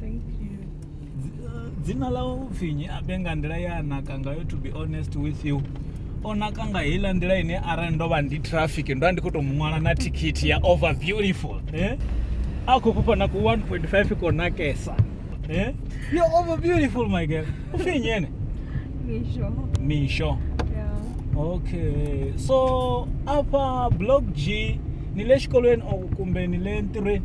thank you dzina ḽa u pfinyi abe nga nḓila ya naka ngayo to be honest with you o naka nga heiḽa nḓila ine arali ndo vha ndi traffic ndo vha ndi khou tou mu ṅwala na thikhithi ya over beautiful eh? a khou fhufha na ku 1.5 ko nakesa eh? yo over beautiful my girl u pfinyi ene misho misho yeah. okay so afha blog g ni le xikolweni or kumbe ni le ntirhweni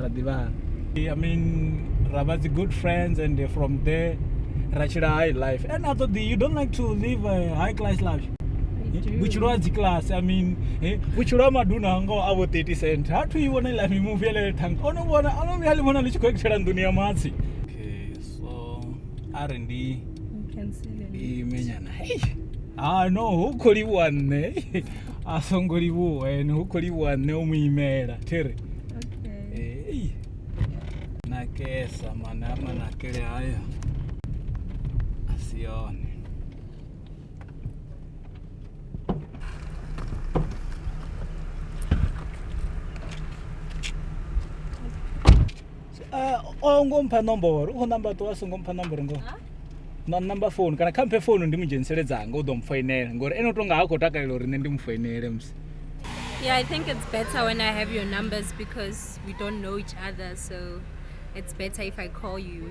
ra ḓivhana i mean ra vha dzi good friends and from there ra tshila high life and a ṱoḓi you don't like to live a high class life vhutshilo ha dzikiḽasi i mean vhutshilo ha maduna ngoho a vho 30 cent ha thu i vhona iḽa mimuvi ele thanga o no vhona o no vhuya ḽi vhona ḽi tshi khou ekithela nḓuni ya matsi okay so a ri ndi imenyana ha no hu khou livhuwa nṋe a songo livhuwa ene hu khou livhuwa nṋe o mu imela thiri ei nakesa mana a manakele haya a si yone Uh, o ngo mpha nomboro u khou namba ṱuwa a songo mpha nomboro ngo na namba founu kana kha mphe founu ndi mu dzhenisele dzanga u ḓo mu foinela ngori ene u tonga ha khou takalela uri nṋe ndi mu foinele musi Yeah, I think it's better when I have your numbers because we don't know each other, so it's better if I call you.